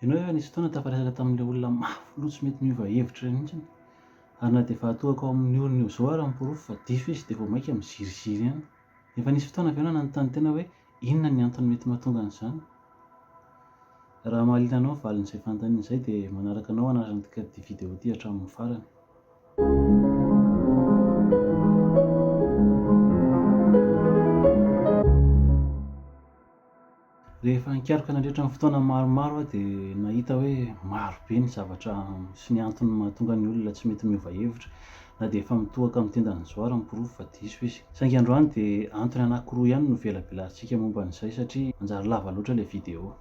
Ianao efa nisy fotoana tafaresaka tamin'ilay olona mafy loha tsy mety miova hevitra iray mihitsy. Ary na dia fahatohako ao amin'ny orony eo izao ary ny porofo fa diso izy dia vao mainka miziriziry ihany. Efa nisy fotoana avy eo nanontany tena hoe inona ny antony mety mahatonga an'izany? Raha mahaliana anao ny valin'izay fanontaniana izay dia manaraka anao hanarantika ity video ity hatramin'ny farany. Rehefa nikaroka nandritra ny fotoana maromaro aho dia nahita hoe maro be ny zavatra sy ny antony mahatonga ny olona tsy mety miova hevitra, na dia efa mitohaka amin'ny tendan'ny zo ary ny porofo fa diso izy. Saingy androany dia antony anankiroa ihany no velabelarintsika momba an'izay satria manjary lava loatra ilay video.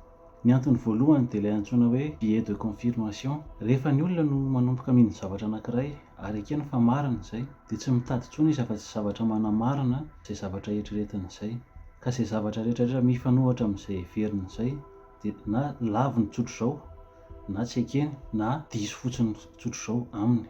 Ny antony voalohany dia ilay antsoina hoe biais de confirmation. Rehefa ny olona no manomboka mino zavatra anankiray, Ary ekeny fa marina izay. Dia tsy mitady intsony izy afa-tsy zavatra manamarina izay zavatra eritreretiny izay. Ka izay zavatra rehetrarehetra mifanohitra amin'izay heveriny izay dia na laviny tsotr'izao na tsy ekeny na diso fotsiny tsotr'izao aminy.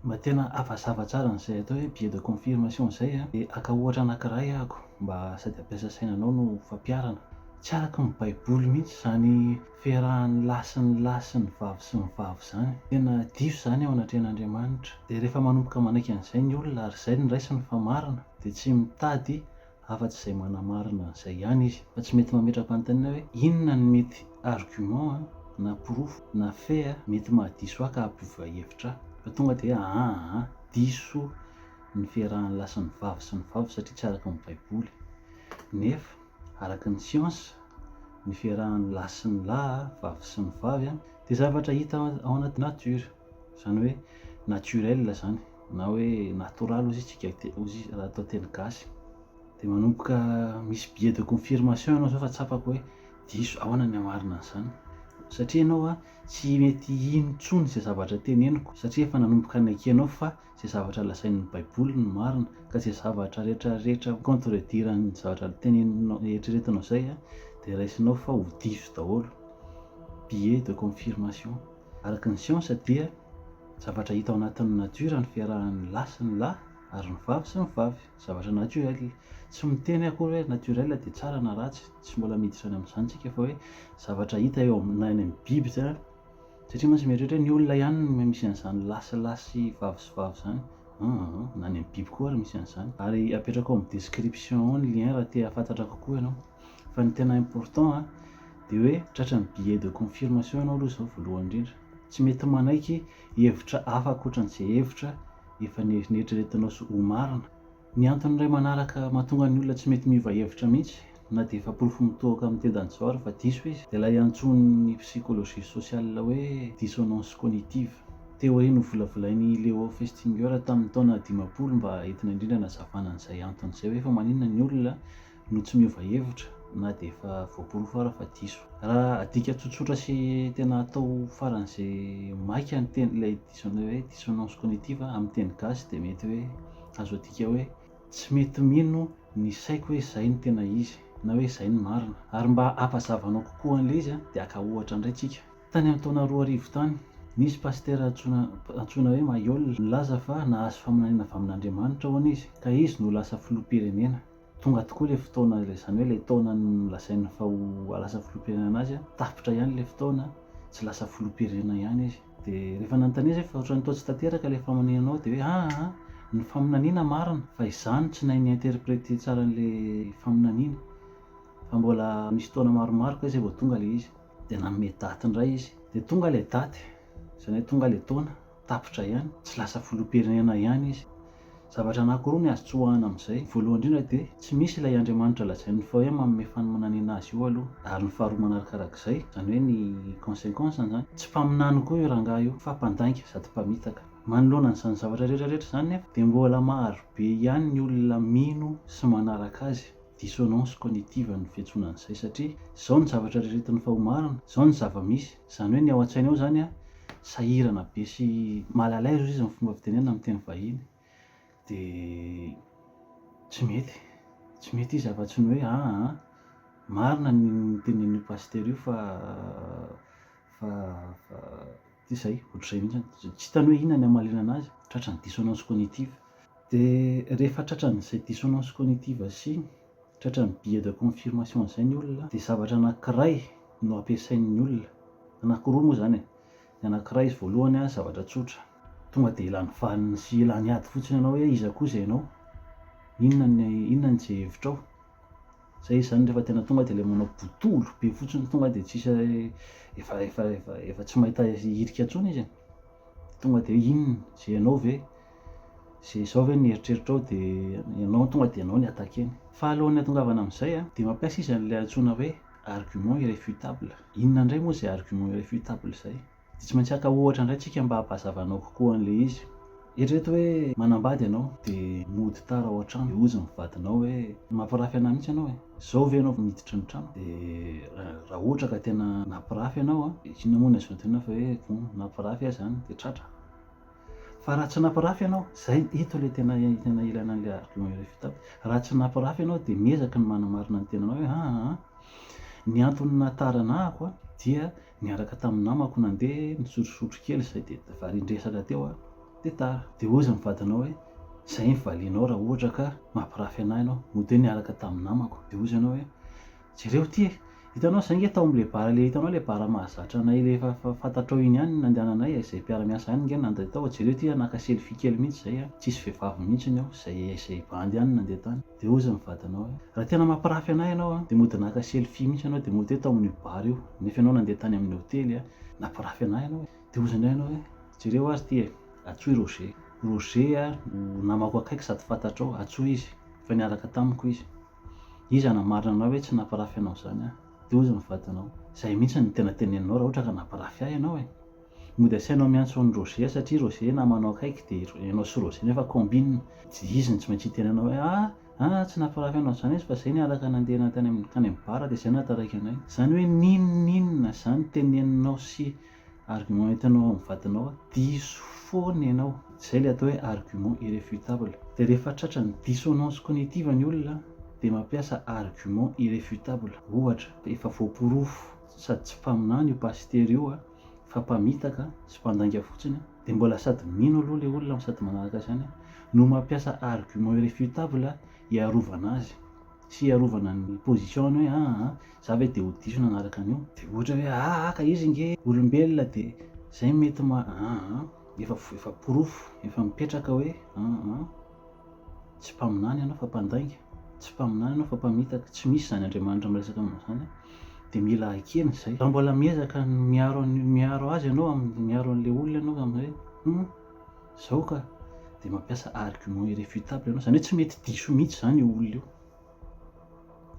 Mba tena havazava tsara an'izay atao hoe biais de confirmation izay an, dia haka ohatra anankiray aho mba sady hampiasa sainanao no ho fampiharana. Tsy araka ny Baiboly mihitsy izany. ferahan'ny lahy sy ny lahy sy ny vavy sy ny vavy izany. Tena diso izany eo anatrehan'Andriamanitra. Dia rehefa manomboka manaiky an'izay ny olona ary izay ny raisiny fa marina dia tsy mitady afa-tsy izay manamarina an'izay ihany izy. Fa tsy mety mametra-panontaniana hoe inona ny mety argument na porofo na fait mety mahadiso ahy ka hampiova hevitra ahy. Fa tonga dia hoe aa diso ny ferahan'ny lahy sy ny vavy sy ny vavy satria tsy araka ny baiboly. Nefa. Araka ny siansa, ny fiarahan'ny lahy sy ny lahy, vavy sy ny vavy, dia zavatra hita ao anaty nature, izany hoe naturel izany, na hoe natoraly hozy isika hozy raha atao teny gasy. Dia manomboka misy biais de confirmation ianao izao fa tsapako hoe diso, ahoana ny hamarina an'izany? Satria ianao tsy mety hino intsony izay zavatra teneniko, satria efa nanomboka nekenao fa izay zavatra lazain'ny baiboly no marina ka izay zavatra rehetra rehetra contredire an'ny zavatra teneninao eritreretinao izay dia raisinao fa ho diso daholo billet de confirmation araka ny siansa dia zavatra hita ao anatin'ny nature ny fiarahan'ny lahy sy ny lahy ary ny vavy sy ny vavy zavatra naturel tsy miteny akory hoe naturel dia tsara na ratsy tsy mbola miditra any amin'izany tsika fa hoe zavatra hita eo na any amin'ny biby izay Satria mantsy mieritreritra hoe ny olona ihany no misy an'izany lahy sy lahy sy vavy sy vavy izany aah na ny amin'ny biby koa ary misy an'izany. Ary apetrako ao amin'ny description ao ny lien raha te hahafantatra kokoa ianao. Fa ny tena important a dia hoe tratra ny billet de confirmation ianao aloha izao voalohany indrindra. Tsy mety manaiky hevitra hafa ankoatra an'izay hevitra efa neritreretinao sy ho marina. Ny antony iray manaraka mahatonga ny olona tsy mety miova hevitra mihitsy na dia efa porofo mitohoka amin'ny tendan'ny Jawar fa diso izy dia ilay antsoin'ny psychologie sociale hoe dissonance cognitive, théorie novolavolain'i Leo Festinger tamin'ny taona dimampolo mba entina indrindra anazavana an'izay antony izay hoe fa maninona ny olona no tsy miova hevitra na dia efa voaporofo ara fa diso. Raha adika tsotsotra sy tena atao faran'izay maika ny teny ilay diso an'ilay hoe dissonance cognitive amin'ny teny gasy dia mety hoe azo adika hoe tsy mety mino ny saiko hoe izay no tena izy na hoe izay no marina. Ary mba hampazavanao kokoa an'ilay izy dia haka ohatra indray tsika. Tany amin'ny taona roa arivo tany, nisy pasitera antsoina antsoina hoe Mayol nilaza fa nahazo faminaniana avy amin'Andriamanitra hono izy ka izy no ho lasa filoham-pirenena. Tonga tokoa ilay fotoana, ilay izany hoe ilay taona nolazainy fa ho lasa filoham-pirenena azy, tapitra ihany ilay fotoana, tsy lasa filoham-pirenena ihany izy. Dia rehefa nanontaniana izy hoe fa ohatran'ny toa tsy tanteraka ilay faminanianao dia hoe aa, ny faminaniana marina fa izaho no tsy nahay ni-interpreter tsara an'ilay faminaniana, fa mbola nisy taona maromaro kay izay vao tonga ilay izy. Dia nanome daty indray izy. Dia tonga ilay daty, izany hoe tonga ilay taona. Tapitra ihany, tsy lasa filoham-pirenena ihany izy. Zavatra anankiroa ny azo tsoahina amin'izay. Voalohany indrindra dia tsy misy ilay Andriamanitra lazain'ny FAOM manome fanomanan'ina azy io aloha. Ary ny faharoa manarakarak'izay, izany hoe ny consequence izany, tsy mpaminany koa io rangahy io fa mpandainga sady mpamitaka. Manoloana an'izany zavatra rehetra rehetra izany nefa dia mbola marobe ihany ny olona mino sy manaraka azy. Dissonance cognitive ny fiantsoana an'izay satria izao ny zavatra riritin'ny FAOM arina, izao ny zava-misy. Izany hoe ny ao an-tsainy ao izany sahirana be sy mal à l'aise izy ny fomba fitenenana amin'ny teny vahiny dia tsy mety, tsy mety izy afa-tsy ny hoe aa marina ny tenenin'io pasitera io fa fa fa dia izay, ohatr'izay mihitsy any, tsy hitany hoe inona ny hamaliana anazy, tratran'ny dissonance cognitive. Dia rehefa tratran'izay dissonance cognitive sy ny Tratran'ny billet de confirmation izay ny olona dia zavatra anankiray no ampiasain'ny olona, anankiroa moa izany e, ny anankiray izy voalohany a zavatra tsotra, tonga dia lany vaniny sy lany ady fotsiny ianao hoe iza koa izay ianao, inona ny inona ny izay hevitrao, izay izy izany rehefa tena tonga dia ilay manao botolo be fotsiny tonga dia tsisy efa efa efa efa tsy mahita hirika intsony izy e, tonga dia hoe inona, izay ianao ve? Izay izao ve no eritreritrao dia ianao tonga dia ianao no attaquer-ny. Fa alohan'ny hatongavana amin'izay an, dia mampiasa izy an'ilay antsoina hoe argument irréfutable. Inona indray moa izay argument irréfutable izay? Dia tsy maintsy haka ohatra indray tsika mba hampahazavanao kokoa an'ilay izy. Eritrereto hoe manambady ianao dia mody tara ao an-trano dia hozy ny vadinao hoe mampirafy an'ahy mihitsy ianao e! Izao ve ianao vao miditra ny trano? Dia raha ohatra ka tena nampirafy ianao an, inona moa no azo antoinina fa hoe nampirafy ahy izany? Dia tratra. Fa raha tsy nampirafy ianao, izay, ito ilay tena tena ilaina an'ilay argument iray vita aby. Raha tsy nampirafy ianao dia miezaky ny manamarina ny tenanao hoe aa aa ny antony nahataranahako an dia niaraka tamin'ny namako nandeha nisotrosotro kely izay dia varian-dresaka teo an dia tara. Dia hozy ny vadinao hoe izay ny valianao raha ohatra ka mampirafy anah ianao, mody hoe niaraka tamin'ny namako, dia hozy ianao hoe Jereo ty e! Hitanao zay nge tao am le bar le hitanao le bar mahazatra anay le efa fantatrao iny ihany no nandehananay e, zay mpiara miasa ihany nge no nandeha tao, jereo ty a naka selfie kely mihitsy zay a, tsisy vehivavy mihitsiny ao, zay zay bandy ihany no nandeha tany, de hozy ny vadinao hoe, raha tena mampirafy anay ianao a, de mody naka selfie mihitsy ianao de mody hoe tao amin io bar io, nefa ianao nandeha tany amin ny hotely a, nampirafy anay ianao e! de hozy indray ianao hoe, jereo ary ty e, Atso i Roger, Roger a no namako akaiky sady fantatrao, Atso izy, efa niaraka tamiko izy. Iza namarina anao hoe tsy nampirafy anao izany aho? Dia hozy ny vadinao, izay mihitsy no tena teneninao raha ohatra ka nampirafy ahy ianao e! Mody asainao miantso an'i Roger satria Roger namanao akaiky dia ianao sy Roger nefa combine. Dia izy no tsy maintsy hiteny anao hoe ah ah tsy nampirafy anao izany izy fa izay niaraka nandeha nankany amin'ny bar dia izay nahataraiky anay. Izany hoe n'in n'in na izany teneninao sy Argument entinao ao amin'ny vadinao a, diso foana ianao. Izay ilay atao hoe argument irréfutable. Dia rehefa tratran'ny dissonance cognitive ny olona dia mampiasa argument irréfutable. Ohatra, efa voaporofo sady tsy mpaminany io pasitera io a, fa mpamitaka sy mpandainga fotsiny a, dia mbola sady mino aloha ilay olona no sady manaraka izany a, no mampiasa argument irréfutable hiarovana azy. fiarovana ny position-ny hoe aa a, za ve de ho diso nanaraka an'io, de ohatra hoe aa a ka izy nge olombelona de zay mety ma aa a, efa efa porofo, efa mipetraka hoe aa a, tsy mpaminany ianao fa mpandainga, tsy mpaminany ianao fa mpamitaka, tsy misy izany Andriamanitra miresaka aminao izany, de mila ekena izay, raha mbola miezaka ny miaro an'io, miaro azy ianao amin'ny miaro an'le olona ianao ka amin'izay hoe humm. Zao ka dia mampiasa argument irréfutable ianao, izany hoe tsy mety diso mihitsy izany io olona io.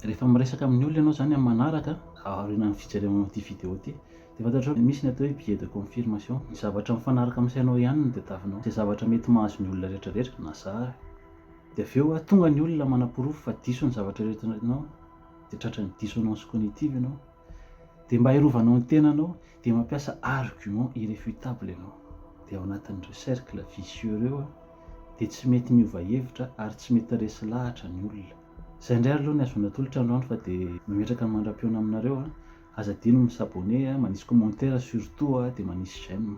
Rehefa miresaka amin'ny olona ianao izany amin'ny manaraka, aorianan'ny fijerena an'ity video ity, dia fantatrao fa misy ny atao hoe biais de confirmation. Ny zavatra mifanaraka amin'ny sainao ihany no tadiavinao. Izay zavatra mety mahazo ny olona rehetrarehetra na zara. Dia avy eo, tonga ny olona manaporofo fa diso ny zavatra eritreretinao, dia tratran'ny dissonance cognitive ianao. Dia mba hirovanao ny tenanao dia mampiasa argument irrefutable ianao. Dia ao anatin'ireo cercle vicieux ireo dia tsy mety miova hevitra ary tsy mety resy lahatra ny olona. Izay indray ary aloha ny ahazoana tolotra androany fa dia mametraka ny mandra-pihaona aminareo a! Aza adino ny mi-s'abonner a, manisy commentaire surtout a, dia manisy j'aime.